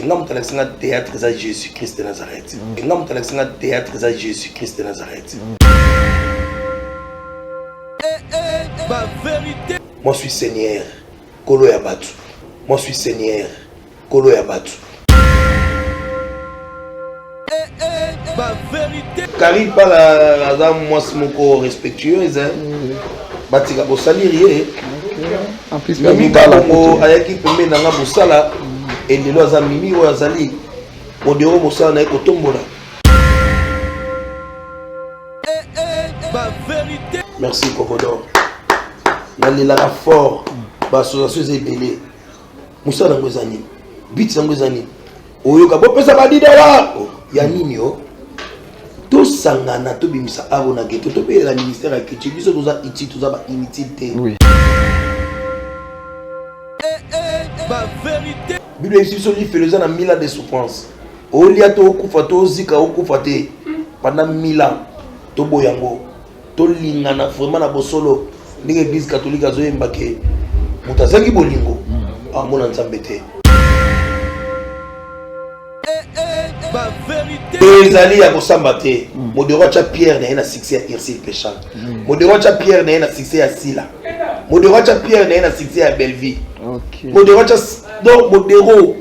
nga moto alakisi nga théâtre eza jésus christ de nazareth nga moto alakisi nga théâtre eza jésus christ de nazareth moi suis seigneur kolo ya bato moi suis seigneur kolo ya batu Carine Pala aza mwasi moko respectueuse batika kosalire ye mimi kalongo ayaki pembeni na nga mosala elelo aza mimi oyo azali modero mosala na ye kotombola merci kokodor nalelaka fort baassociation eza ebele mosala yango eza nini bit yango eza nini oyoka bopesa badidala oh, ya nini o tosangana tobimisa avo na geto tobelela ministère ya culture biso toza utile toza ba inutile te biblia ebisi biso lifelo eza na mila de souffrance olia to okufa to ozika okufa te pendant mila toboya yango tolingana vraiment na bosolo ndenge eglise catholique azoyemba ke moto azangi bolingo amona nzambe te ezali ya kosamba te modero atya pierre na ye na succès ya ursile pechal modero atya pierre na ye na succès ya sila modero atya pierre na ye na succès ya bellevie modero atya donc modero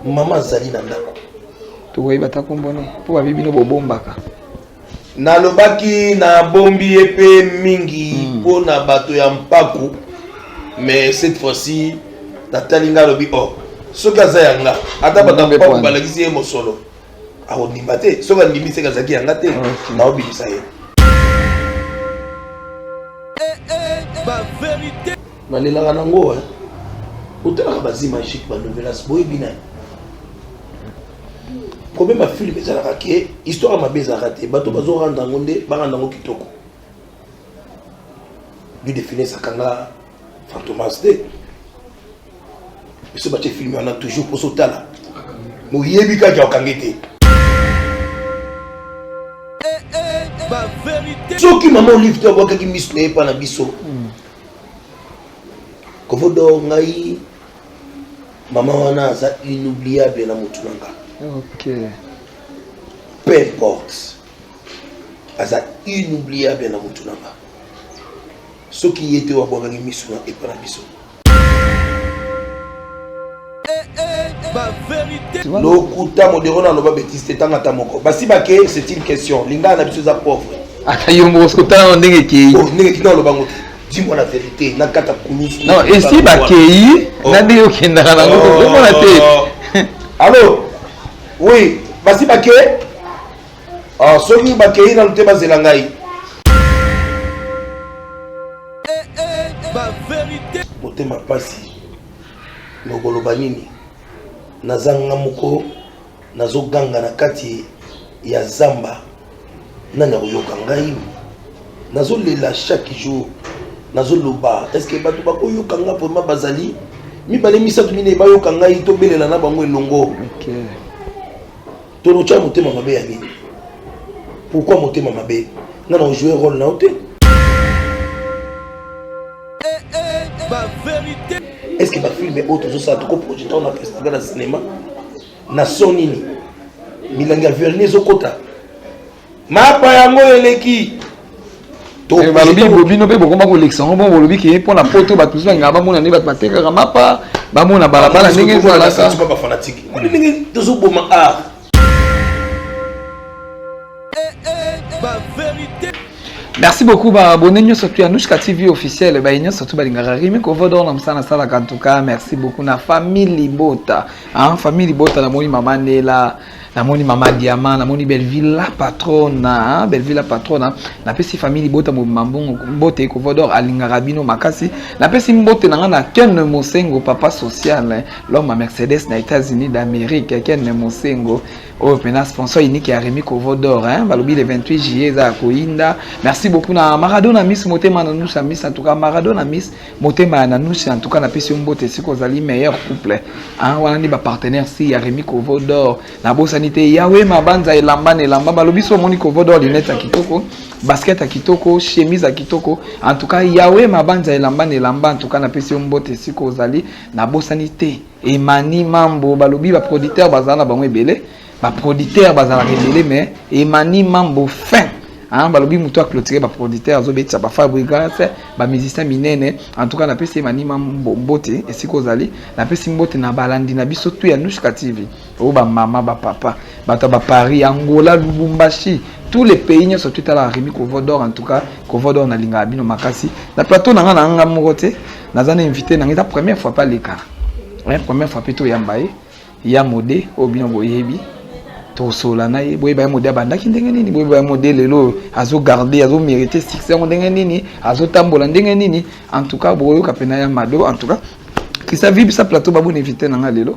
mama azali na ndako tokoyeba ta nkombo ne mpo babi bino bobombaka nalobaki nabombi ye mpe mingi hmm. mpo na bato ya mpaku mais cette fois-ci natali ngai alobi o oh, soki aza ya nga ata bato ya mpaku balakisi ye mosolo akondima te soki andimi seke azalaki yanga te naobimisa ye nalelaka nango otalaka bazi magique banovelas boyebi nani problème ya filme ezalaka ke histoire ya mabe ezalaka te bato bazoranda yango nde baranda yango kitoko du defines akanga Fantomas te. Biso batie film wana toujours poso tala. Moyebi kaka okangi te. soki mama olive te abwakaki miso na ye mpa na biso hmm. kovodo ngai mama wana aza inoubliable na motu na nga okay. peu importe aza inoubliable na motu na nga soki ye te oyo abwakaki miso na epa na biso lokuta modero na loba betise te tanga ata moko basi bake c'est une question lingala na biso eza pauvre ata yo moko sikotala na ndenge ekei oh, ndenge kina oloba ngo te dis-moi la vérité nakata kulusu non esi bakei oh. na ndenge okendaka nango oh. omona te allo oui basi bake Ah, soki bakei nanu te bazela ngai eh, eh, motema mpasi nokoloba nini nazanga moko nazoganga na kati ya zamba nani akoyoka ngai nazolela chaque jour nazoloba estce bato bakoyoka ngai vraimen bazali mibale misato minei bayoka ngai tobelela na bango elongo okay. Tolotya motema mabe ya nini? Pourquoi motema mabe? Nga na ojouer role na yo te. Est-ce que ba film oyo tozosala toko projeta na festival na cinéma na son nini? Milangi ya vernis ezokota mapa yango eleki eh, balobi bo bino mpe bokoma kolekisa yango bongo bolobi ke mpo na poto bato mosusu balingaka bamona nde bato batekaka mapa bamona balabala ndenge ezalaka tozoboma art merci beaucoup baabonne nyonso tu anushka tv officiel baye nyonso tu balingaka rimi kovodor na mosala nasalaka en tout cas merci beaucoup na famille libota hein? famille libota namoni mama nela namoni mama diama namoni belleville la patrona belleville la patrona napesi famille libota mobimba mbongo mbote ecovodor alingaka bino makasi napesi mbote na ngai na ken mosengo papa social loma mercedes na états-unis d'amérique ken mosengo oyo mpena sponsor unique ya remi covodor hein? balobi le 28 juillet eza ya koyinda merci beaucoup na maradona miss motema na nusa miss en tout cas maradona miss motema ya nanusha en tout cas napesi yo mbote esika ozali meilleur couple hein, wana nde bapartenaire si ya remi kovo dor nabosani te yawe mabanza elamba na elamba balobi so omoni kovo dor linete ya kitoko basket ya kitoko chemise ya kitoko en tout cas yawe mabanza elamba na elamba en tout cas napesi yo mbote esika ozali nabosani te Emani Mambo balobi ba producteurs bazala na bango ebele, ba producteurs bazalaka ebele mais Emani Mambo fin Hein, balobi moto a clôturer ba producteurs azobetisa ba fabrigas ba musiciens minene en tout cas napesi Emani Mambo mbote esika ozali napesi mbote na balandi na biso tu ya Nushka TV oyo ba mama ba papa bato ba Paris Angola Lubumbashi tous les pays nyonso tu tala Remy Kovodor en tout cas Kovodor nalingaka bino makasi na plateau na ngai na ngai moko te naza na invité na ngai eza première fois pa leka eh, première fois mpe toyamba ye ya mode oyo bino boyebi tosola na ye boyeba ye mode abandaki ndenge nini boyeba ye mode lelo oyo azogarde azomérite succès yango ndenge nini azotambola ndenge nini en tout cas bokoyoka mpena ya mado en tout cas kisa vibisa plateau babona invité na ngai lelo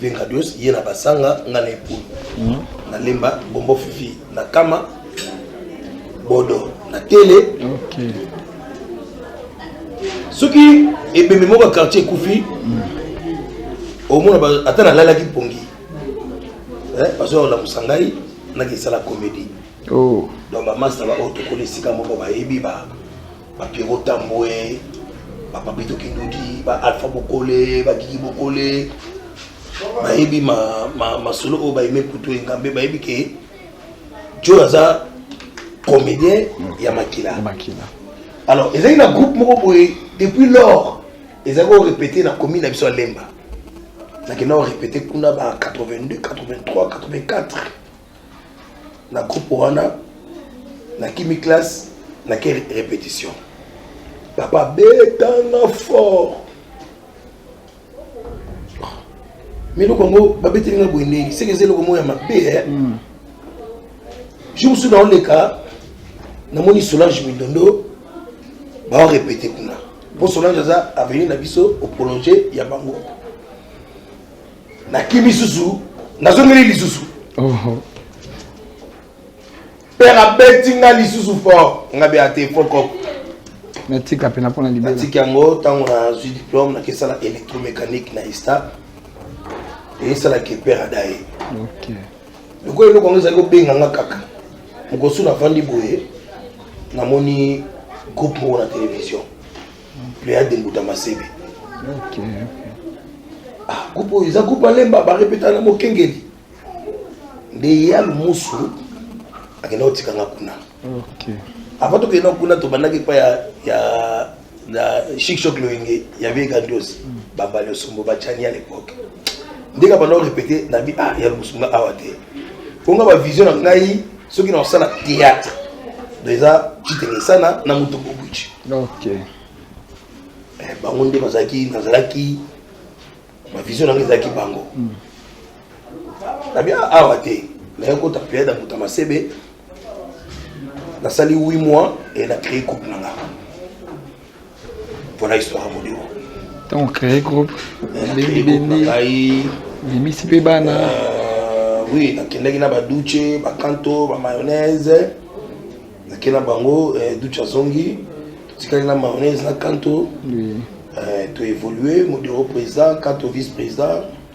Vengadios ye na basanga nga na epulu hmm. na lemba bombo fifi na kama bodo na tele okay. soki ebembe moko ya quartier ekufi hmm. omona ata nalalaki mpongi eh, bazoya kolamusa ngai nakisala comédie oh. donc bamasta baoyo tokoli esika moko bayebi ba ba Pierrot Tambwe, ba Papito Kindudi, ba Alpha Bokole, ba Gigi Bokole, bayebi ma, ma, masolo oyo bayeme kutu engambe bayebi ke joe aza comédien ya makila alors ezali na groupe moko boye depuis lors ezali korepete na commune na biso ya lemba nakenda korepete kuna ba 82 83 84 na groupe wana na kimi classe na ke répétition papa betanga fort miloko yango babeteli nga boye ndenge seke eza eloko moko ya mabe eh. hmm. jour mosusu naoleka namoni solange mindondo baorepete kuna mpo solange aza avenir na biso oprolonge ya bango nakimi susu nazongeli lisusu oh. père abeti nga lisusu fort nga bea te fokoko natika mpena mpona libela natiki yango ntango nazwi diplome nakesala électromécanique na esta esalaki père adaye lokola eloko yango ezali kobenga nga kaka mokosu nafandi boye namoni groupe moko na télévision Pléade Mbuta Masebe. Ok. Ah, groupe oyo eza groupe alemba barepeta na mokengeli nde ye ya lumusu akenda kotika nga kuna Ok. avant tokenda kuna tobandaki epai ya ya na shikshok loyenge ya vie grandiose babali osombo bacani à l'époque ndenge abanda korepete nabi ah ya lumusu nga awa te mpo nga bavision na ngai soki na osala théâtre eza chitenge sana na moto bobuchi ok eh, bango nde bazalaki nazalaki bavision nanga ezalaki bango mm. nabi awa te naye kota periode ya moto ya masebe nasali 8 mois e na créé couple nanga Voilà histoire modero. Donc créer groupe, bengi bengi, bimisi pe bana. Euh, oui, nakendaki na ba douche, ba kanto, ba mayonnaise. Nakendaki na bango euh, douche azongi, totikaki na mayonnaise na kanto. Oui. Euh, to évoluer, modero président, kanto vice président.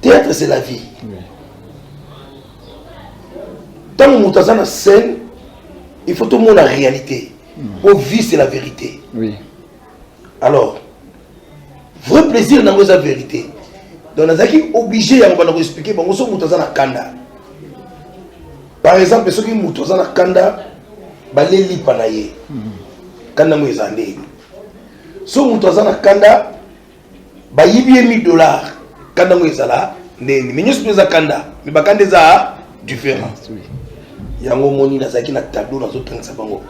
théâtre c'est la vie ntango moto aza na scène il faut tomona réalité po hmm. vie c'est la vérité oui. alors vrai plaisir nango eza vérité donc nazalaki obligé yango banda koexplike bango soki moto aza na kanda par exemple soki moto aza na kanda balelipa na ye hmm. kanda yango eza ndeni soki moto aza na kanda bayibi ye 1000 dollars kanda ngo ezala ndenge mais nyonso mpe eza kanda mais bakanda eza différent yango omoni nazalaki na tableau nazotangisa bango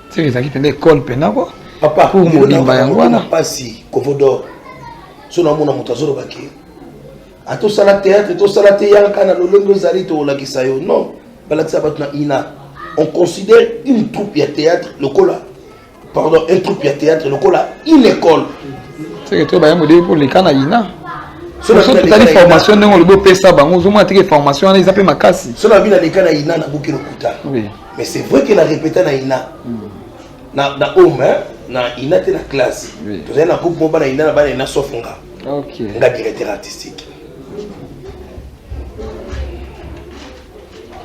seke ezalaki mpenza ekole mpenza ko papa pour molimba yango wana mpasi kovodor so namona moto azolobaki ata osala théâtre tosala te yaka na lolenge ozali tokolakisa yo non balakisa bato na ina on considère une troupe ya théâtre lokola pardon un troupe ya théâtre lokola une école seke to baya modele mpo leka na ina soki totali formation ndenge olobi opesa bango ozomona teke formation wana eza mpe makasi so nabi na leka na ina nabuki lokuta mais c'est vrai ke na répéta na ina na, na home hein? na ina te na classe tozali na groupe moko bana ina na bana ina sauf nga okay. nga directeur artistique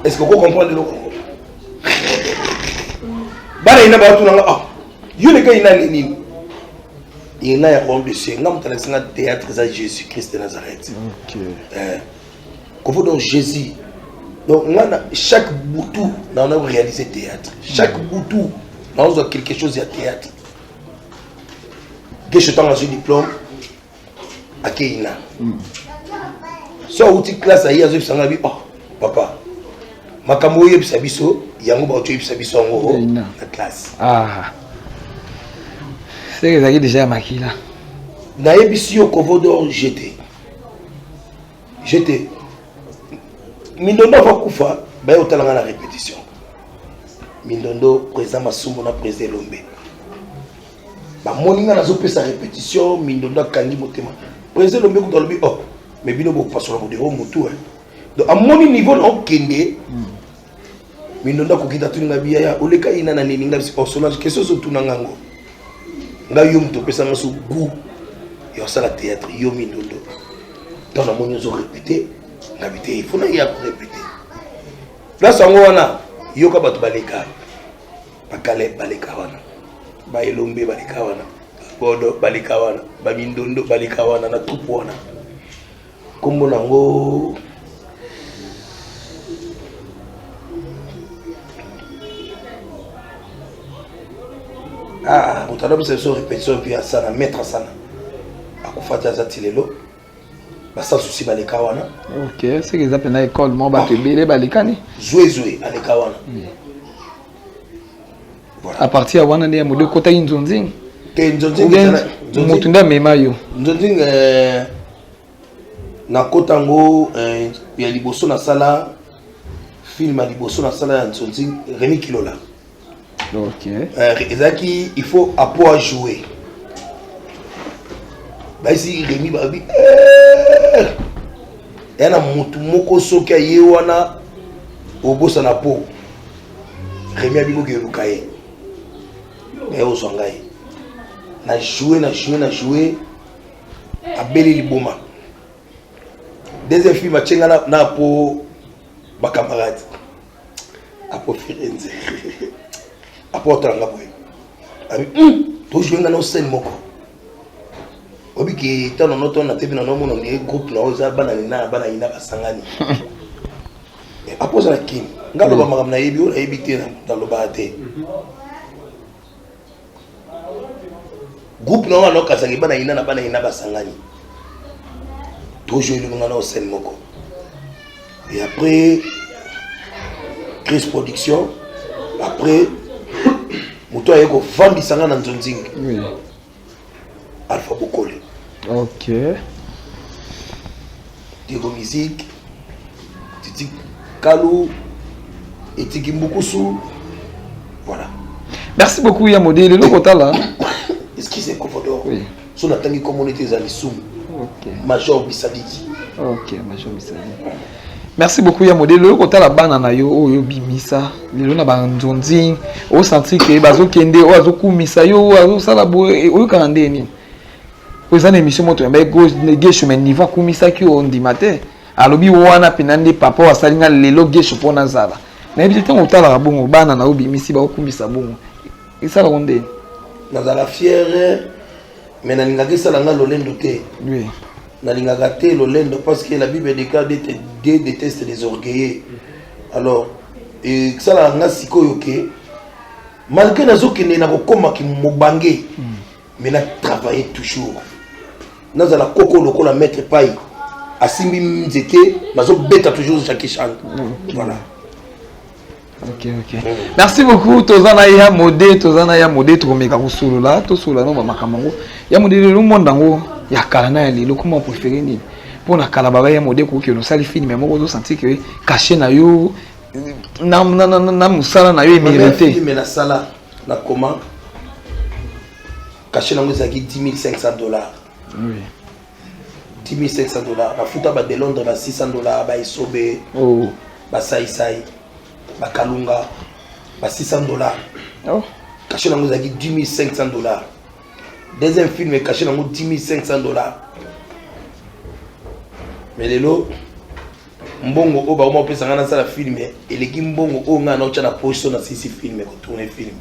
est ce que oko comprendre eloko bana ina bato na nga ah yo leka ina ni nini ina ya homme de ciel nga mutala singa théâtre za Jésus Christ de Nazareth OK euh kovo donc Jésus donc nga na chaque butu na on a réalisé théâtre chaque mm. butu na on quelque chose ya théâtre que je tanga ce diplôme akeyi na hmm. so awuti classe aye azoyebisa nga bi oh papa makambo oyebisa biso yango baoki oyebisa biso yango na classe ah. seke ezalaki deja ya makila nayebisi yo covodor jete jete mindondo ava kufa baye kotala nga na répétition mindondo président masumu na président elombe bamoni ngai nazopesa repetition mindondo akangi motema président lombe kutu alobi ok oh, me bino bopasola modero motu eh. donc amoni niveau na okende mindondo akoki tatuni ngai biyaya oleka yina na nini ngai osonage oh, question ozotuna ngai yango ngai yo moto opesa ngai so gout ya osala théâtre yo mindondo ntango namoni ozo répété na biteyi fo naye akorépété place yango wana yoka bato baleka bakale baleka wana baelombe baleka wana bodo baleka wana bamindondo baleka wana na tupu wana nkombo nango ah, moto alobisa biso repetition mpe asana maître asana akufa te aza ti lelo basasusi baleka wana ok seke eza mpena ekole moko bato ah. ebele balekani zwezwe aleka wana hmm. a partir ya wana nde ya modo ekotaki nzonzing te nzonzingmoto nde amema yo nzonzing eh, nakota yango eh, ya liboso nasala film ya liboso nasala ya nzonzing remi kilola okay. euh, ezalaki il faut apo ajoue baisi remi babi eh! ya na motu moko soki aye wana obosana po remi abikoki eluka ye me ozwa ngai na joue na joue na joue abeli liboma deuxième film atye ngai na po bacamarade akofere nze aportala nga boye abi hmm, tozwi nga na osene moko oyebi ke ntango nano to na tebi nano omona ondire groupe na oyo eza bana nina na bana yina basangani eh, apoza na kini nga loba hmm. makambo nayebi oyo nayebi te nalobaka te hmm. groupe na wana okazangi bana ina na bana ina basangani tojo elonga na osene moko et après crise production après moto aye kovandisa nga na nzonzingi Alpha Bokole. Ok. Diego Musique, Titi Kalou, Etiki Mbukusu. Voilà. Merci beaucoup ya modèle eloko tala. Excusez Kovodor. Oui. So natangi komona ete ezali sumu. Ok. Major Bisadiki. Ok, Major Bisadiki. Merci beaucoup ya modèle oyo kotala bana na yo oyo bimisa lelo na ba nzonzing o sentir que bazo kende oyo azo kumisa yo azo sala boye eh, oyo kana ndeni oza na émission moto ya mbaye gauche ne gauche mais niveau kumisa ki o ndima te alobi wana pena nde papa oyo asali nga lelo gauche mpo nazala nayebi te ntango otalaka bongo bana na yo bimisi bakokumisa bongo esalaka ndeni nazala fiere mais nalingaki esala nga lolendo te oui nalingaka te lolendo parce que la bible déclare dieu déteste les orgueilleux alors esalaka nga sikoyo ke malgré nazokende na kokoma mobange mais na travaille toujours nazala koko lokola maître pai asimbi nzete nazobeta toujours jackie chan voilà Okay, okay. merci beaucoup toza na ya mode toza na ya mode tokomeka kosolola tosolola no bamakambo yango ya mode lelo monde yango ya kala na ya lelo koma opréféré nini mpo na kala baba ya mode koki osali filme moko ozosanti ke kashe na yo na, na, na, na, na mosala na yo emerite filme nasala na koma kashe nango ezalaki 10500 dollars oui. 10500 dollars nafuta ba de londres na 600 dollars ba esobe oh. basaisai bakalunga ba 600 dollars oh. kashe nango ezalaki 10500 dollars deuxième film ekashe nango 10500 dollars mais lelo mbongo oyo bakoma kopesa ngai nasala filme eleki mbongo oyo ngai naotya na poso na sisi filme kotourne filme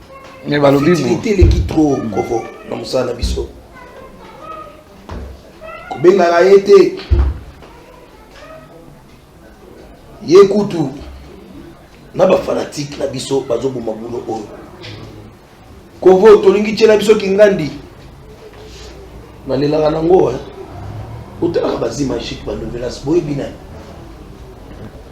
Mais balobi futilité eleki trop kovo na mosala na biso kobengaka ye te ye kutu na bafanatike na biso bazoboma bulo oyo kovo tolingi tyela biso kingandi nalelaka nango otalaka bazimagike banovelas boyebi nani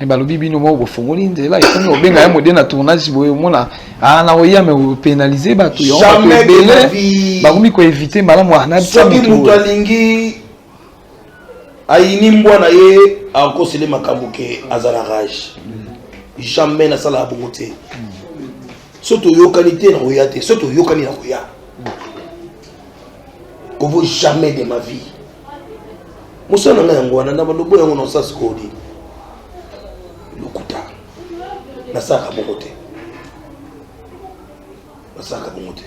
me balobi bino moko bofongoli nzela ekomi obenga ye mode na tournage boye omona ah, na oya me opénalise bato yaebele bakomi koevite malamu ah, soki moto alingi ayini mbwa na ye akosele makambo ke aza na rage jamais nasalaka bongo te so toyokani te na koya te so toyokani na koya kovo jamais de ma vie mosala na ngai yango wana na balobo yango na osasi kodi lokuta nasalaka moko te nasalaka bongo te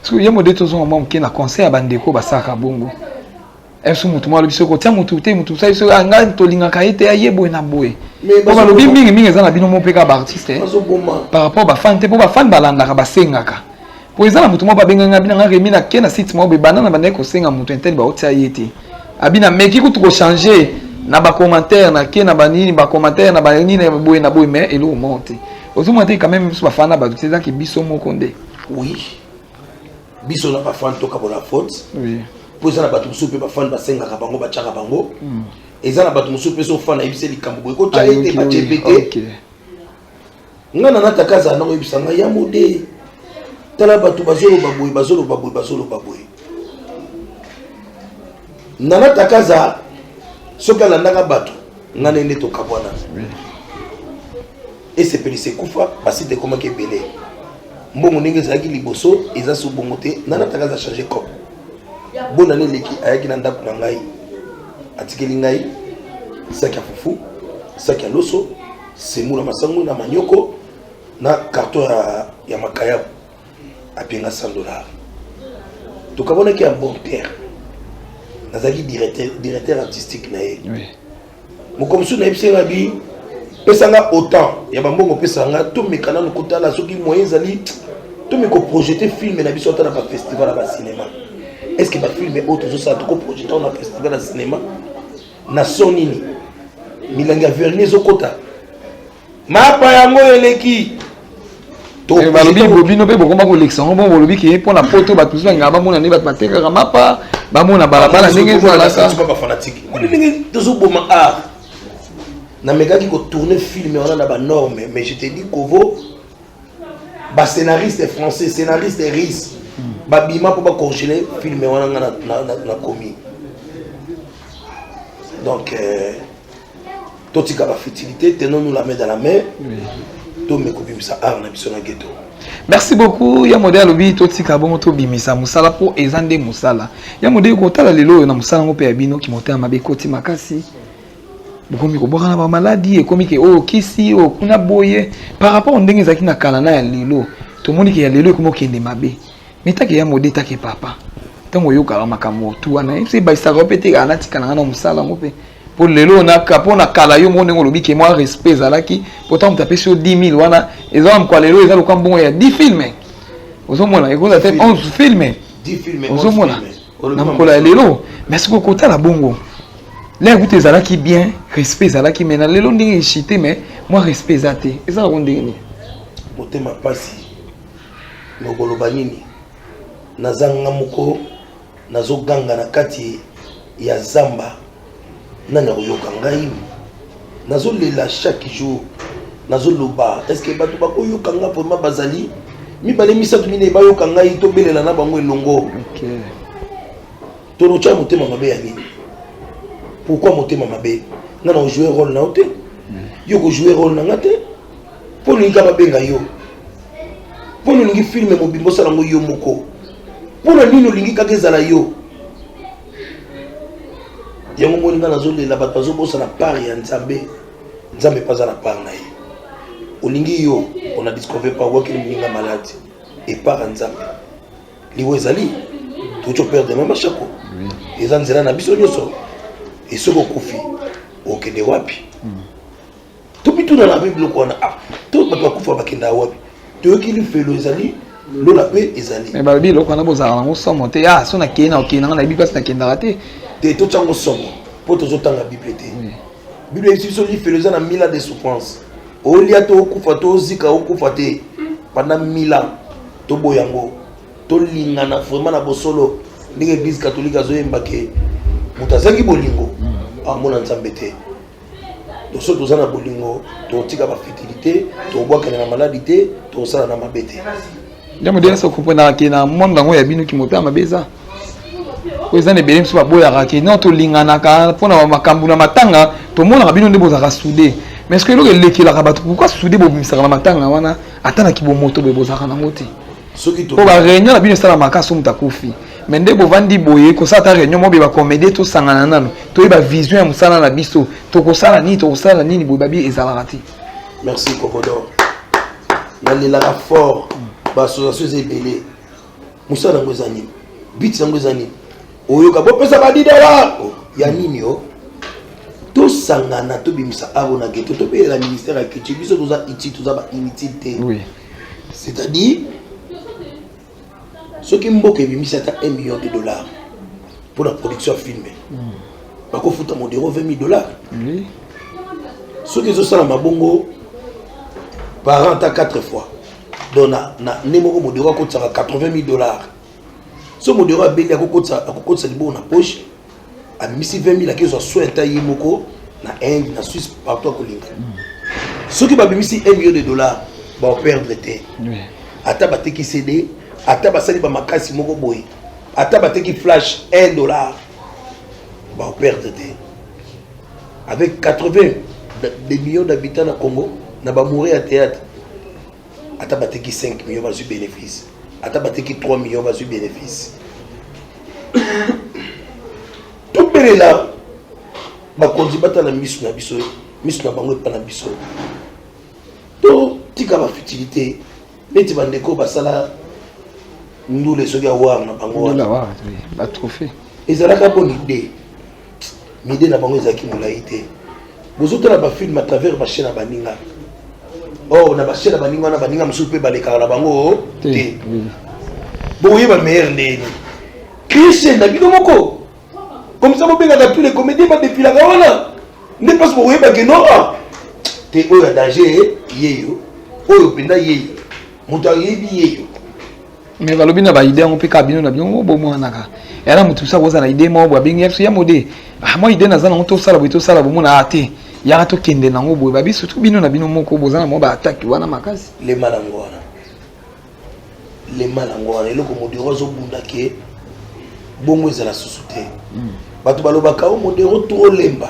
soki ye mode tozonga mwa moke na conseil ya bandeko basalaka bongo esu motu mwa alobi soki kotya motu te motu osali soki ah, ngai tolingaka ye te aye boye na boye po balobi mingi mingi eza na bino moko mpe kaka baartiste eh. par rapport bafane te mpo bafane balandaka basengaka po eza na moto moko babenga nga bina nga remi na ke na site moko boye banda na bandaki kosenga moto intele baotia ye te abina meki kutu kochange na bacommentaire na ke na banini bacommentaire na banini na boye na boye mais eloko moko te ozomona te quand même biso bafana na bato te ezaki biso moko nde oui biso na bafana tokabola faute oui mpo eza na bato mosusu mpe bafani basengaka bango batyaka bango hmm. eza na bato mosusu mpe sofana yebisa likambo boye kotya ye te batye mpe te nga na nataka azala nango yebisa nga ya mode tala bato bazoloba boye bazoloba boye bazoloba boye na nataka aza soki alandaka bato nga nende tokabwana esepelisa ekufa basite ekomaki ebele mbongo ndenge ezalaki liboso eza so bongo te na nataka aza change cop bona ne eleki ayaki na ndako na ngai atikeli ngai saki ya fufu saki ya loso Semu na masangu na manyoko na carton ya, ya makayabu apenga 100 dollars tokamonaki ya bon terre nazalaki directeur, directeur artistique na ye oui. moko mosusu nayebisi nga bi pesa nga autant ya bambongo pesa nga tomeka nanu kotala soki moyen ezali tomeka oprojete filme na biso ata na bafestival ya bacinema est ce que bafilme oyo tozosala tokoprojete na festival ya cinema na son nini milangi ya verni ezokota mapa yango eleki eh, balobi bobino mpe bokoma kolekisa yango bongo bolobi ke mpo na poto bato mosusu bangaka bamona nde bato batekaka mapa bamona balabala ndenge ezalaka tozoboma art namekaki kotourne filme wana na banorme mais je te dis kovo ba scénariste français scénariste russe babima mpo bacorgele filme wana nga nakomi donc euh, totika bafutilité tenons nous la main dans la main tomeka obimisa art na biso na ghetto merci beaucoup ya mode alobi totika bongo tobimisa mosala mpo eza nde mosala ya mode kotala lelo oyo na mosala yango mpe ya bino kimotema mabe ekoti makasi bokomi kobwaka na bamaladi ekomi ke oyo oh, kisi oyo oh, kuna boye par rapport ndenge ezalaki na kala na ya lelo tomoni ke ya lelo ekomi okende mabe mitake ya mode etake papa ntango oyokaka makambo tu wana epesa ebakisaka yo mpe te kaka natikala nga na mosala yango mpe mpo lelo naka mpo na kala yo moko ndenge olobi ke mwa respect ezalaki mpo ntango moto apesi yo 10 000 wana eza wana mokwa lelo eza lokola mbongo ya 10 filme ozomona ekozala te 11 filme ozomona na mokolo ya lelo mais soki okotala bongo lelo kutu ezalaki bien respect ezalaki mais na lelo ndenge echite mais mwa respect eza te eza yango ndenge nini motema mpasi nokoloba nini nazanga moko nazoganga na kati ya zamba nani akoyoka ngai nazolela chaque jour nazoloba estce bato bakoyoka ngai vraimen bazali mibale misato minei bayoka ngai tobelela na bango elongo tolotya motema mabe ya nini pourkui motema mabe nga na ojoue role na yo te hmm. yo kojoue role na nga te mpo olingi ka babenga yo mpo olingi filme mobimba osala yango yo moko mpo na nini olingi kaka ezala yo yango moni nga nazolela bato bazobosana part ya nzambe nzambe mpe aza na part na ye olingi yo ona discover pa wakili moninga maladi epart ya nzambe liwa ezali toki operde meme ashako eza nzela na biso nyonso esoki okufi okende wapi tobituna na mpe biloko wana ah, to bato bakufa bakenda wapi toyoki lifelo ezali lola mpe ezali me balobi eloko wana bozala nango somo te ya ah, so nakei na okei nanga nayebi mpasi nakendaka te te totyango somo mpo tozotanga bible te bible eyebisi biso lifelo eza na mila de souffrance olia to okufa to ozika okufa te panda mila toboya yango tolingana vraiment na bosolo ndenge eglise katolike azoyemba ke moto azangi bolingo amona nzambe te toso toza na bolingo tokotika bafitili te tokobwakana na maladi te tokosala na mabe te nde modele so komprenaka ke na monde yango ya bino kimoto ya mabe eza oyo eza na ebele mosusu baboyaka ke non tolinganaka mpo na makambo na matanga tomonaka bino nde bozalaka soude mais soki eloko elekelaka bato pourkoi soude bobimisaka na matanga wana ata na kibomoto boye bozalaka nango te soki to ba réunion na bino esalamaka soki moto akufi mais nde bovandi boye kosala ta réunion mobe bacomédie tosangana nano toyeba vision ya mosala na biso tokosala nini tokosala nini boye babi ezalaka te merci kokodor nalelaka fort baassociation eza ebele mosala yango eza nini biti yango eza nini oyoka bopesa badidala ya nini o tosangana tobimisa aro na geto tobelela ministère ya culture biso toza iti toza bainutile te c'est-à-dire soki mboka ebimisi ata 1 million de dollars mpo na production ya filme bakofuta modero 20 000 dollars soki ezosala mabongo par an ata 4 fois donc na, na nde moko modero akotisaka 80 000 dollars so modero abendi akokotisa libongo na poche abimisi 20 000 akezwa soin ata ye moko na inde na suisse partout akolinga soki babimisi 1 million de dollars baoperdre te ata bateki cd ata basali bamakasi moko boye ata bateki flash 1 dollar baoperdre te avec 80 des millions d'habitants na congo na bamoure ya théâtre ata bateki 5 million bazwi bénéfice ata bateki 3 million bazwi bénéfice tobelela bakonzi batala miso na biso miso na bango epa na biso totika bafutilité neti bandeko basala ndule soki awar na bango ezalaka bonide mide na bango ezalaki molai te bozotala bafilme à travers bashe na baninga or na bashe na baninga wana baninga mosusu mpe balekaka na bango te boyeba meilleur ndeni christian na bino moko comme ça bobengaka tous les comédien badepilaka wana nde mpasi bokoyebake no ah, te oyo ya danger yeyo oyo mpenza yeyo moto ayebi yeyo mais balobi na baide yango mpe kaka bino na bino bomonanaka yana moto mosusu akozala na ide moko boye abengi ya biso ya mode ah, mwa ide naza nango tosala boye tosala bomona a te yaka tokende nango boye babi surtout bino na bino moko boza na mwa baatake wana makasi lema nango wana lema nango wana eloko modero azobunda ke bongo ezala susu te hmm. bato balobaka o oh, modero tro lemba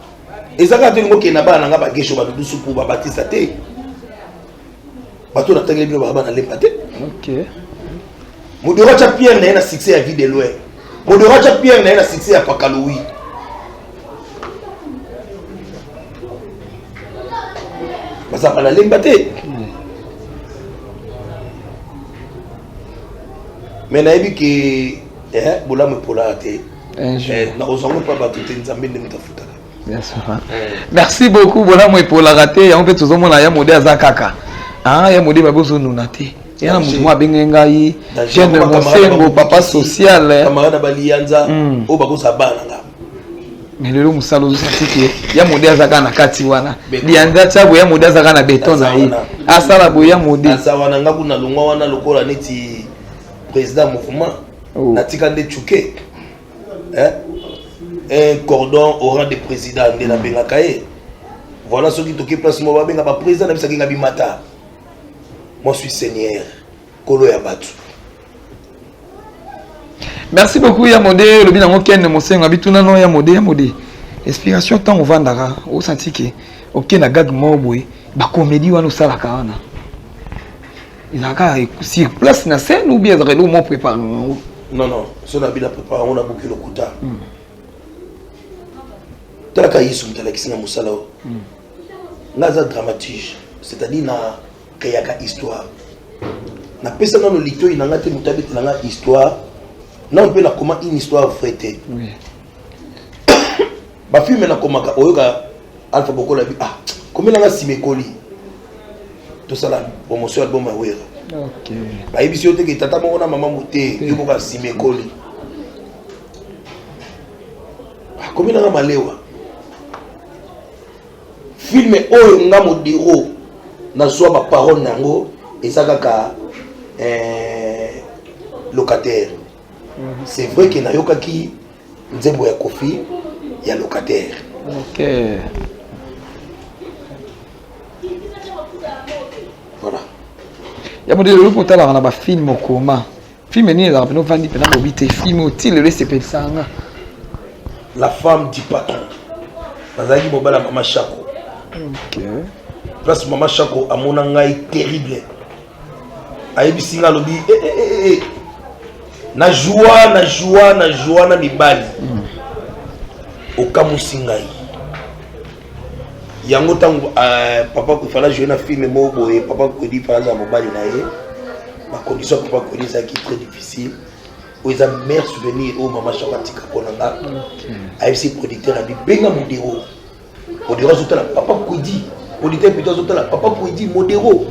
eza kaka tolingi okende na bana na nga bagesho badudusu mpo babatisa te bato natangeli bino baba na lemba te modero atya pierre na ye na succès ya vie de loin modero atya pierre na ye na succès ya pakalowi bazalaka na lemba te me nayebi ke eh, bolamu epolaka te Eh, na kozwa yango mpo bato te nzambe nde moto afutaka eh. merci beaucoup bolamu epolaka te yango mpe tozomona ya mode aza kaka ah, ya mode babi ozonuna te yana moto moko abenge ngai jeune mosengo papa social kamarade eh. baliyanza hmm. oyo bakosa bana nga mais lelo mosala ozosaki ke ya mode aza kaka na kati wana liyanza tia boye ya mode aza kaka na beton na ye asala boye ya mode aza wana nga kuna longwa wana lokola neti président mouvement oh. natika nde chuke eh? un cordon oran de président nde nabengaka ye voilà soki toki place moko babenga baprésident na biso akenga bimata moi suis seigneur kolo ya bato merci beaucoup ya mode olobi nango kende mosenga bituna no ya mode ya mode inspiration ntango ovandaka osanti ke oke na gag moko boye bakomedi wana osalaka wana ezalaka sur place na scène ou bien ezalaka eloko mo prépare yango non non so na bina prépare yango nabuki lokuta hmm. talaka yesu moto alakisi na mosala oyo hmm. nga aza dramatige c'est-à-dire na keyaka histoire napesa nano litoi na nga te moto abetela nga histoire nano mpe nakoma une histoire vrai te oui. Ba film na komaka oyoka Alpha Bokola bi ah komela nga sima ekoli. Tosala promotion album ya Wera. Okay. Bayebisi yo te ke tata moko na mama mote yo moko ya sima ekoli. Akomi na nga malewa. Film oyo nga modero nazwa ba parole na yango eza kaka eh, locataire c'est vrai que nayokaki nzembo ya kofi ya locataire okay. voilà ya modele oloki otalaka na bafilme okoma filme nini ezalaka pena ovandi pena bobi te filme oti lelo esepelisaka nga la femme du patron nazalaki mobala mama shako okay. place mama shako amona ngai terrible ayebisi nga alobi eh, eh, eh, eh, eh. na joa na joa na joa na mibali mm. okamwisi ngai yango ntango uh, papa kofala joue na filme moko boye papa kodi mpe azala mobali na ye bacondition ya papa kodi ezalaki très difficile oyo eza mare souvenir oyo mama shaka atika mpo na nga mm. ayebisi producteur abi benga modero Odero azotala papa Kwedi. Auditeur plutôt azotala papa Kwedi Modero.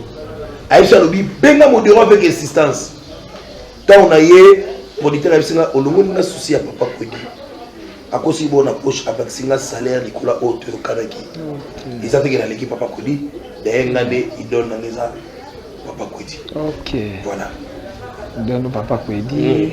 Aïcha alobi benga Modero avec insistance. Tant na ye auditeur ayebisi nga olongoli nga souci ya papa Kwedi. akosi bona poche abakisi nga salaire likolo oyo toyokanaki eza teke naleki papa kodi daye nga nde idole nanga eza Papa Kwedi. Ok. Voilà. Dondo Papa Kwedi. Mm.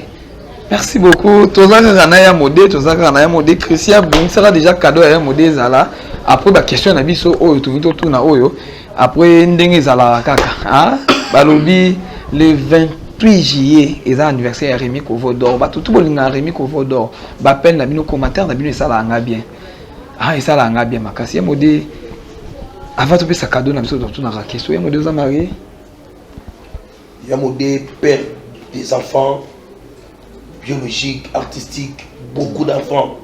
Merci beaucoup. Toza kaka na ya mode, toza kaka na ya mode. Christian bongisaka déjà cadeau ya ya mode ezala. Après ba question na biso oyo toki to tuna oyo. Après ndenge ezala kaka. Hein? Balobi le 28 juillet eza anniversaire ya Remy Kovo d'or. Ba tout bolinga Remy Kovo d'or. Ba peine na bino commentaire na bino esala nga bien. ah esala nga bien makasi ye mode avant topesa cadeau na biso totunaka question ye mode oza marie ya mode père des enfants biologique artistique beaucoup d'enfants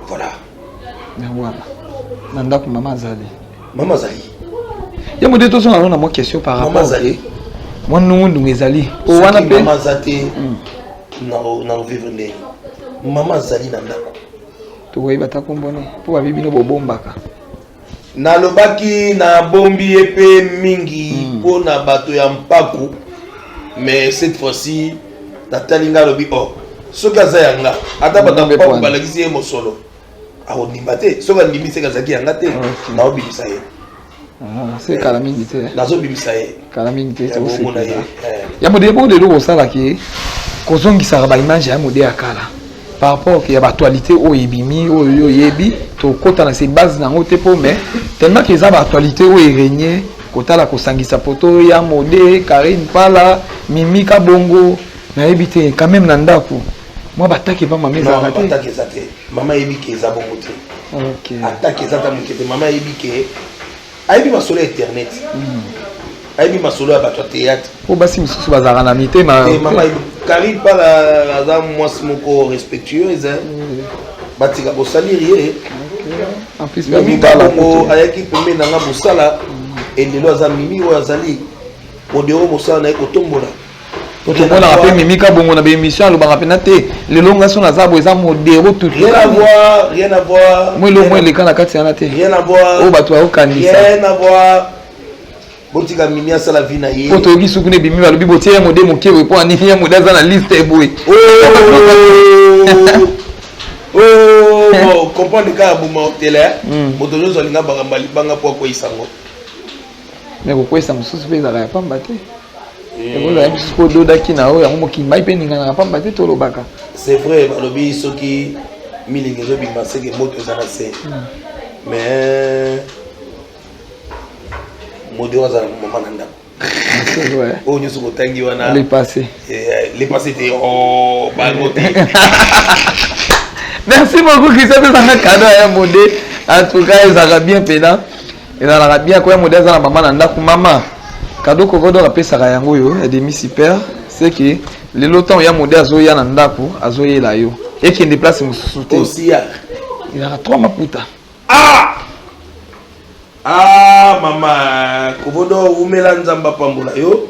voilà yango wana na ndako mama azali mama azali ye mode tozonga no na mwa question par rapport mama azali mwa nungunungu ezali o wana mpe mama aza te hmm. na ovivre ndenge mama azali na ndako tokoyeba ata nkombo ne mpo babi bino bobombaka nalobaki nabombi ye mpe mingi hmm. mpo na bato ya mpaku mais cette fois-ci natali ngai alobi o oh, soki aza ya nga ata bato ya mpaku balakisi ye mosolo akondima te soki andimi seke azalaki ya nga te naobimisa ye Ah, se kala mingi te nazobimisa ye kala mingi te tokosekisa eh. ya modele moko lelo kosalaka ye kozongisaka baimage ya modele ya kala par rapport ya baactualité oyo ebimi oyo yo oyebi tokota na se base na yango te mpo mais tellement ke eza baactualité oyo eregne kotala kosangisa poto ya mode karine pala mimi kabongo nayebi te quand même na ndako mwa batake mpamba mezalaka te mama ayebi ke eza bongo te atake eza ata moke te mama ayebi ke ayebi masolo ya internet hmm. ayebi masolo ya bato ya théâtre po basi mosusu bazalaka na mitema mama kari pala aza mwasi moko respectueuse hmm. batika bosaliri ye mimi kabongo ayaki pembe na nga mosala hmm. elelo aza mimi oyo azali odeo mosala na ye kotombola po tomonaka mpe mimi kabongo na baémission alobaka mpena te lelo nga so naza boye eza modero tutmwa elongo eleka na kati yana te oyo bato bayokanisa botika mimi asala vi na ye po toyoki suku na ebimi balobi botie ya mode moke boye mpo anini ya mode aza na liste eboye comprendre kaka boma otele hmm. moto nyonso alinga bakamba libanga mpo akweyisa yango me kokweyisa mosusu mpe ezalaka ya pamba te ekozala bisu kododaki na oyo yango mokili mai mpe eninganaka mpamba te tolobaka c'est vrai balobi soki milingi ezobima seke moto eza na se hmm. mais modi oyo azala mama na ndako oyo nyonso kotangi wana lepasse eh, te oh, bango te merci beaucoup christian tozanga kado ya mode en tout cas ezalaka bien pena Ezalaka bien koya modèle aza na mama na ndaku mama cadeau kovodo apesaka yango oyo ya demi super c'est que lelo ntango ya modèle azoya na ndaku azoyela yo ekende place mosusu te ezalaka trois maputa ah! ah mama kovodo wumela nzambe apambola yo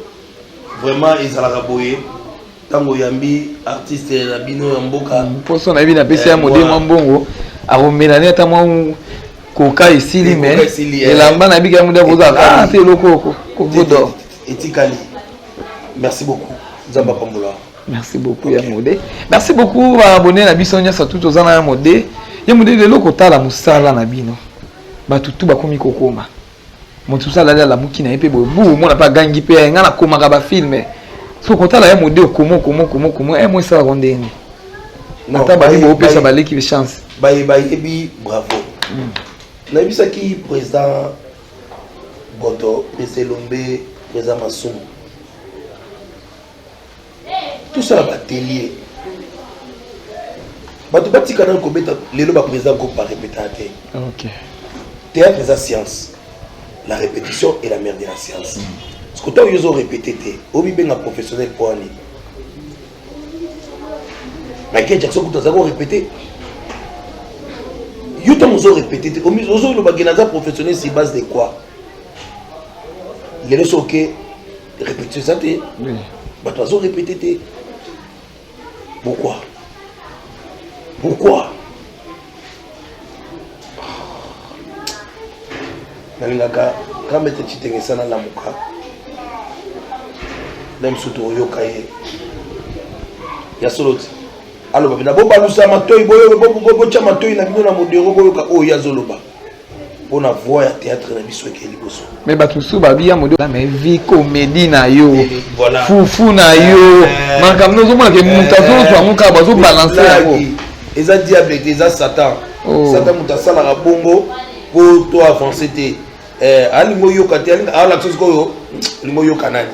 vraiment ezalaka boye ntango oyambi artiste na bino ya mboka mposo nayebi napesi ya mode mwa mbongo akomela ne ata mwa koka esili me elamba na bika yango nde akozala te eloko kovodor etikali merci beaucoup nzambe apambola merci beaucoup ya mode merci beaucoup baabone na biso nyonso tu toza na ya mode ye mode lelo kotala mosala na bino bato tu bakomi kokoma moto mosusu alali alamuki na ye mpe boye bu omona mpe agangi mpe eh, ngai nakomaka bafilme so kotala ye mode okoma okoma okoma okoma e eh, mo esalaka ndenge nini ata babi boopesa baleki be chance baye bayebi bravo hmm. nayebisaki président boto président elombe président masumu tosala batelie bato batika nani kobeta lelo baprésident groupe barepetaka te théâtre eza science la répétition et la mère de la science siko ntango yo ozorepete te omibenga professionnel mpo ani michael jackson kutu aza korepete yo ntango ozorepete te ozoloba ke naza professionnel si base de quoi lelo soke Répétition ça te. Oui. Bah toi on répété te. Pourquoi? Pourquoi? nalingaka kamba ete citengesa nalamuka na mosusu tokoyoka ye ya solo ti aloba mpe na bobalusa matoi boyoka botya matoi na bino na modero boyoka oyo ye azoloba pona voix ya théâtre na biso eke liboso mais bato mosusu babi ya modo mais vie comédie na yo eh, voilà. fufu na eh, yo eh, makambo na ozomona ke moto azozwa yango kaka bazobalanse yango eza diable te eza satan oh. satan moto asalaka bongo po to avance te alingi oyoka te alingi alakisa sikoyo olingi oyoka nani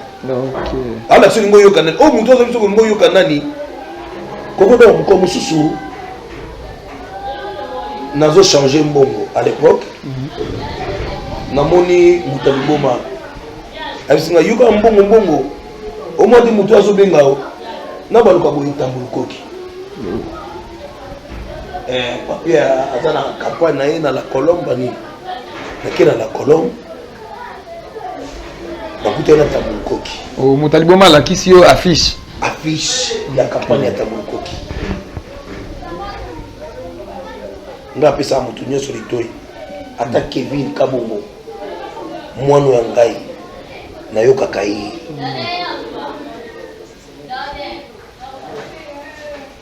alakisa olingi oyoka nani oyo moto azali soki olingi oyoka nani kokoda mokolo mosusu nazo change mbongo à l'époque mhm. namoni moto ya liboma abisinga yoka mbongo mbongo omwadi moto azobenga yo na baluka boye tambulukoki mhm. eh, papier aza na campagne na ye na la colombe nini nake na la colombe bakutani na tabu lukoki oh, moto aliboma alakisi yo affiche affiche ya kampani ya tabu lukoki ngai apesaka moto nyonso litoi ata kevin kabongo mwana ya ngai nayokaka ye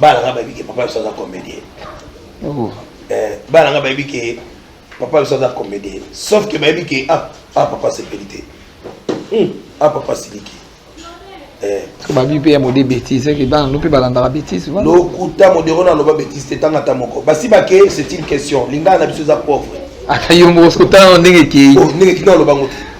bana nga bayebi ke papa biso aza comédien oh. eh, bana nga bayebi ke papa biso aza comédien sauf ke bayebi ke ah, ah papa sepeli te hmm, ah papa siliki eh. babi mpe ya mode bétise ke bana no mpe balandaka bétise lokuta modero na loba bétise te tanga ata moko basi bake c'est une question lingala na biso eza pauvre ata yo moko soki otala ndenge ekei oh, ndenge kina olobango te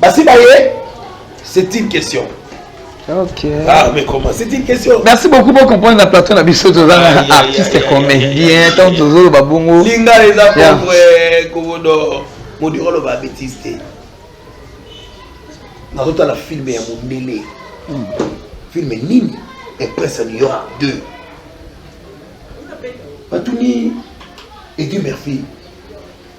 Basi baye, c'est une question. Ok. Ah, mais comment C'est une question. Merci beaucoup pour comprendre la plateau na biso toza na artiste comédien tant tozo ba bongo. Linga les apôtres eh, kobodo modiro lo ba bêtise te. Na rota la film ya Mondele. Hmm. Film nini? Et Prince New York 2. Batuni et Dieu merci.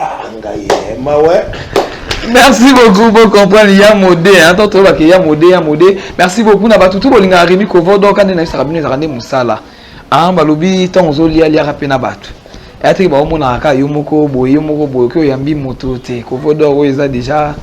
Ah, ngai eh, mawa merci beaucoup bo comprendre ya mode hein to toyeba ke ya mode ya mode merci beaucoup na bato tu bolingaka remi kovo donc ande nayebisaka bino ezalaka nde mosala ah balobi ntango ozolia liaka mpe na bato eyateke baomonaka kaka yo moko boye yo moko boye oke oyambi moto te kovo dor oyo eza déjà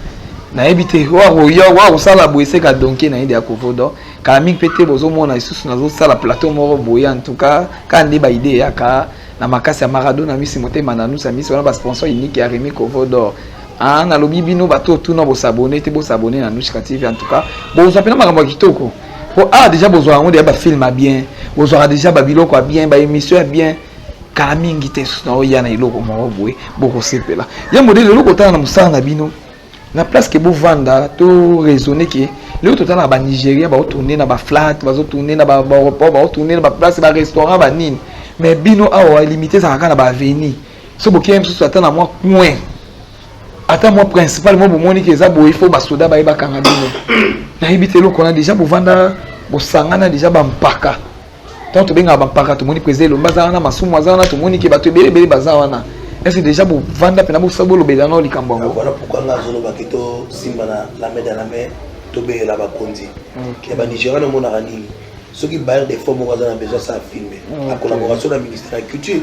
nayebi te wakoya wakosala boye seka donke nayebi ya kovo dor kala mingi mpe te bozomona lisusu nazosala plateau moko boye en tout cas kaka nde baide eyaka na makasi ya Maradona misi motema na nusa misi wana ba sponsor unique ya Remy Kovo d'or ah nalobi bino bato otuna bo s'abonner te bo s'abonner na Nushka TV en tout cas bozwa pena makambo ya kitoko po ah déjà bozwa yango déjà ba film ya bien bozwaka déjà ba biloko ya bien ba émission ya bien kala mingi te soki naoya na eloko moko boye bokosepela ye modele eloko otala na mosala na bino na place ke bovanda to raisonne ke lelo totala na banigeria baotourne na baflat bazotourne na baeuroport baotourne na baplace barestaurant banini mais bino awa limite ezalaka kaka na baaveni so bokei mosusu ata na mwa coin ata mwa principal mwa bomoni ke eza boye fo basoda baye bakanga bino nayebi te eloko wana deja bovanda bosangana deja bampaka ntango tobengaka bampaka tomoni mpenza elombe aza wana masumu aza wana tomoni ke bato ebele ebele baza wana ese deja bovanda mpena bosa bolobela nao likambo yango wana pourkui nga azolobaki tosimba na lame de lame tobeyela bakonzi ya banigéria namonaka nini soki bayer de fond moko aza na besoin asala filme na collaboration na ministère ya culture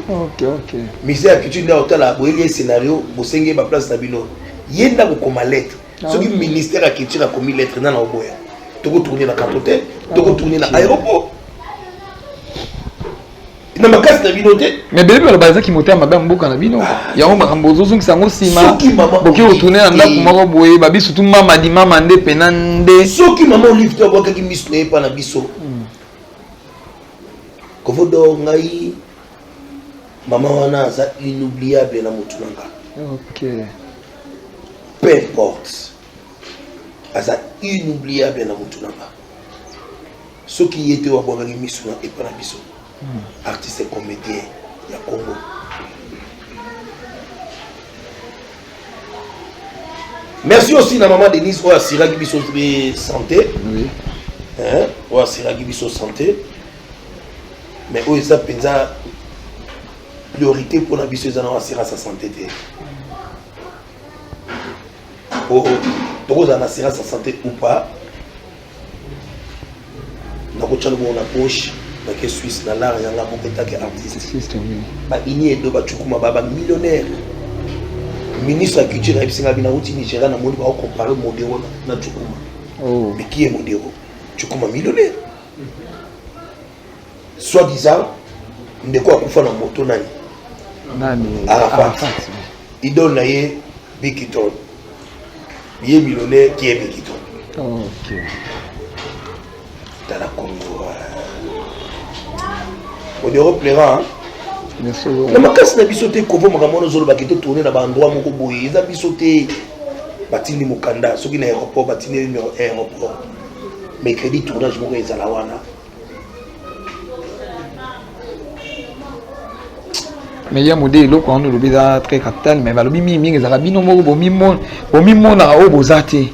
ministère ya culture nde otala boyeli ye scénario bosengi ye baplace na bino ye nde akokoma lettre soki ministère ya culture akomi lettre nana oboya tokotourne na carton te tokotourne na aéroport na makasi na bino te mais bebe baloba eza kimotema mabe ya mboka na bino ah. yango makambo ozozongisa yango nsima boki kotourne na ndako moko boye babi surtout mama di mama nde pena nde soki mama olive te abwakaki miso na ye mpa na biso hmm. kovodo ngai mama wana aza inoubliable na motu na nga peu importe aza inoubliable na mutu na nga soki ye te wabwakaki miso na epa na biso hmm. artiste comédien ya congo merci aussi na maman denise oyo asiraki biso mpe santé oyo asiraki biso santé mais oyo eza mpenza priorité mpo na biso eza na assurance ya sante te po oh, tokozala na assurance ya sante ou pas nakotya lobongo na poche nake suisse na lar yanga moko etake artiste baini edo bacukuma ba bamillionnaire ministre ya culture ayebisi ngai bina uti nigeria namoni baokompare modero na cukuma oh. mais qui est modero cukuma millionnaire soit disant ndeko akufa na moto nani nani arafat idole na ye bikiton ye millionnaire qui est bikiton okay. tala congo euh, odero plaira na makasi na biso te kovo makambo wana ozolobaki totourne na baendroit moko boye eza biso te batindi mokanda soki na aéroport batindi aéroport mercredi tournage moko ezala wana me ya mode eloko wana olobi eza très capital me balobi mingi mingi ezalaka bino moko bomimonaka oyo boza te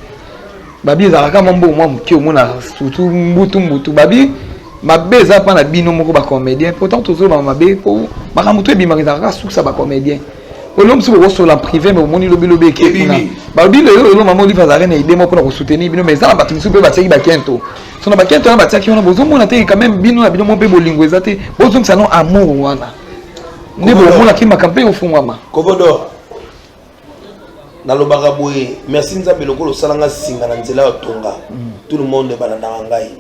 babi ezalaka kama mbongo mwa moke omonaka surtout mbutu mbutu babi mabe eza mpa na bino moko bacomédien pourtant tozoloba mabe mpo makambo to ebimaka ezalaka kaka sukisa bacomédien olo mosusu bokosola privé me omoni lobilobi eke kuna balobi lelo lelo mama olive azalaki na idee moko mpona kosoutenir bino mais eza na bato mosusu mpe batiaki bakento so na bakento wana batiaki wana bozomona te quand même bino na bino mo mpe bolingo eza te bozongisa no amour wana nde bomonaki makambo mpe ofungwama nalobaka boye merci nzambe lokola osala nga singa na nzela ya tonga mm. tout le monde ebalandaka ngai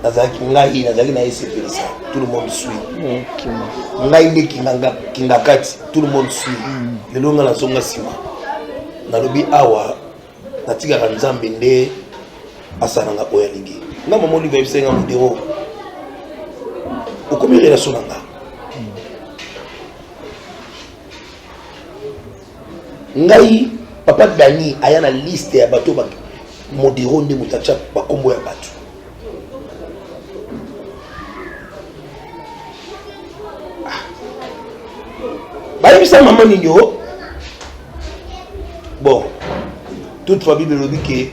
nazalaki ngai nazalaki na esepelisa tout le monde sui ngai nde kingakati tout le monde sui mm. lelo ngai nazonga nsima nalobi awa natikaka nzambe nde asalanga oyo alingi nga mama olive ayebisaki nga modero okomi relation na nga ngai papa dani aya na liste ya bato modero nde moto atya bakombo ya bato ah. bayebisa mama nini o bon toute famille elobi ke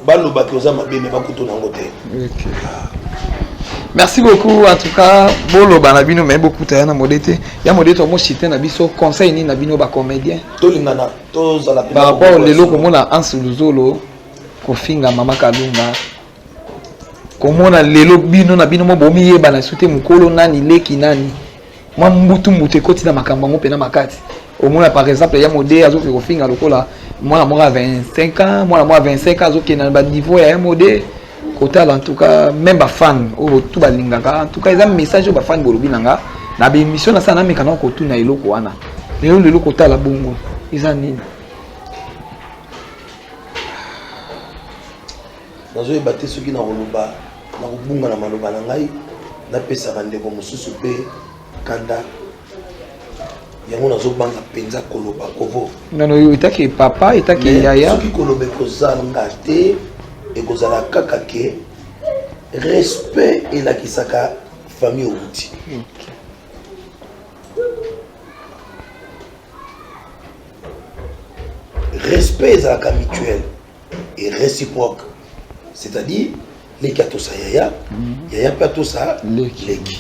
baloba ke oza mabe me bakutu nango te merci beaucoup en tout cas boloba na bino me bokuta ya na mode te ya mode te omosite na biso conseil nini na bino bacomédien tolingana tozala par rapport lelo komona anse luzolo kofinga mama kalunga komona lelo bino na bino moko bomiyebana su te mokolo nani leki nani mwa mbutu mbutu ekoti na makambo yango mpena makati omona par exemple ya mode azoki kofinga lokola mwana moko ya 25 ans mwana moko ya 25 ans azokenda na baniveau ya ya mode kotala en tout cas même bafane oyo tu balingaka en tout cas eza message oyo bafane bolobi na nga na baémission na sana nameka nao kotuna eloko wana lelo lelo kotala bongo eza nini Nazoyeba te soki nakoloba na kobunga na maloba na ngai, napesa bandeko mosusu mpe kanda yango nazobanga mpenza koloba kovo ngano yo etaki papa etaki yaya soki koloba ekozanga te ekozala kaka ke respect elakisaka famille outi respect ezalaka mutuelle et reciproque c'est à dire leki atosa yaya mhm. yaya mpe atosa leki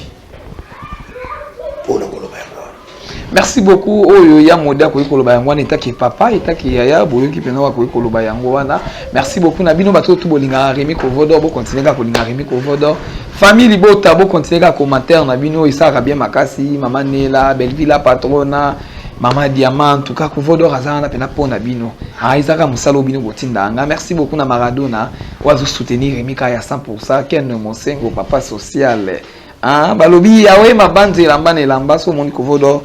mpo na koloba yango wana merci beaucoup oyo ya mode akoki koloba yango wana etaki papa etaki yaya boyoki mpenza bakoki koloba yango wana merci beaucoup na bino bato tu bolingaka remi kovodor bokontinue kaka kolingaka remi kovodor famille libota bokontinue kaka commentaire na bino esalaka bien makasi mama nela belvila patrona Mama Diamant, en tout cas, Kovodor Azana pena pona bino. Ah, Isaka Musalo bino botindanga. Merci beaucoup na Maradona. Oazo soutenir Remika ya 100%. Ken Mosengo, papa social. Ah, balobi ya we mabanzi elamba na elamba so moni Kovodor.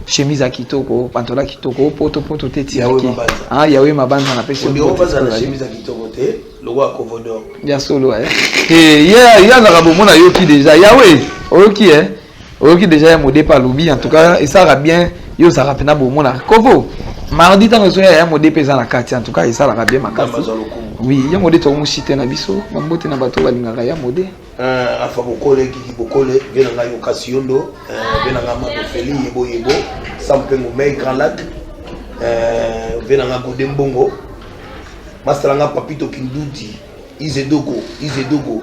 Chemise ya kitoko, pantola kitoko, poto poto te ti. Yawe mabanza. Ah, yawe mabanza na pesi. Odio mabanza na chemise ya kitoko te. Logo ya Kovodor. Ya solo eh. Eh, yeah, ya zaka bomona yoki déjà. Yawe, oyoki eh. oyoki deja ya mode mpe alobi en tout cas esalaka bien yo ozalaka mpena bomonaka kovo mardi ntango ezoya ya mode mpe eza na kati en tout cas esalaka bien makasi oui ya mode tokomoshite na biso na mbote na bato balingaka ya mode euh, afa bokole kiki bokole mpe na ngai okasi yondo mpe euh, na ngai makofeli yebo yebo sam mpe ngomei grand lac mpe euh, na ngai gode mbongo masala ngai papito kindudi izedogo izedogo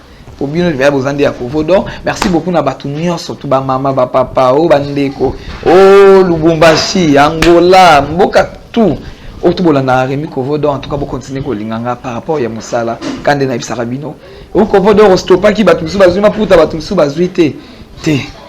po bino libaya boza nde ya kovo donc merci beaucoup na bato nyonso tu bamama bapapa o oh, bandeko o oh, lubumbashi angola mboka tout oyo tu bolandaka remi kovo donc en tout cas bocontinue kolinga nga par rapport ya mosala ka nde nayebisaka bino o oh, kovo donc ostopaki bato mosusu bazwi maputa bato mosusu bazwi te te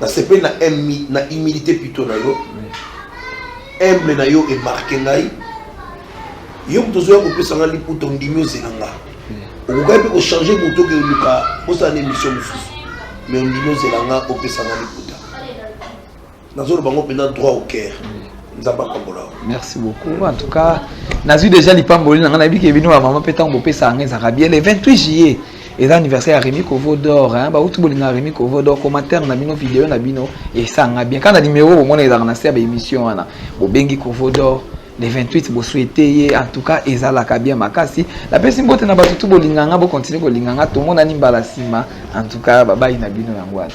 nasepeli na emi- na humilité plutôt na yo humble na yo emarke ngai yo moto ozoya kopesa ngai liputa ondimi ozela nga okokaki mpe kochange moto oke oluka osala na émission mosusu mais ondimi ozela nga opesa ngai liputa nazoloba yango mpenza droit au cœur nzambe apambola yo merci beaucoup en tout cas nazwi déjà lipamboli na ngai nayebi ke bino bamama mpe ntango bopesa yango ezalaka bien le 28 juillet eza anniversaire ya remi kovo dor bauti bolinga ya remi kovo dor commentaire na bino video na bino esanga bien kaka na numero bomona ezalaka na se ya baémission wana bobengi kovo dor le 28 boswete ye en tout cas ezalaka bien makasi napesi mbote na bato tu bolinga nga bokontinue kolinga nga tomonani mbala nsima en tout cas babai na bino yango wana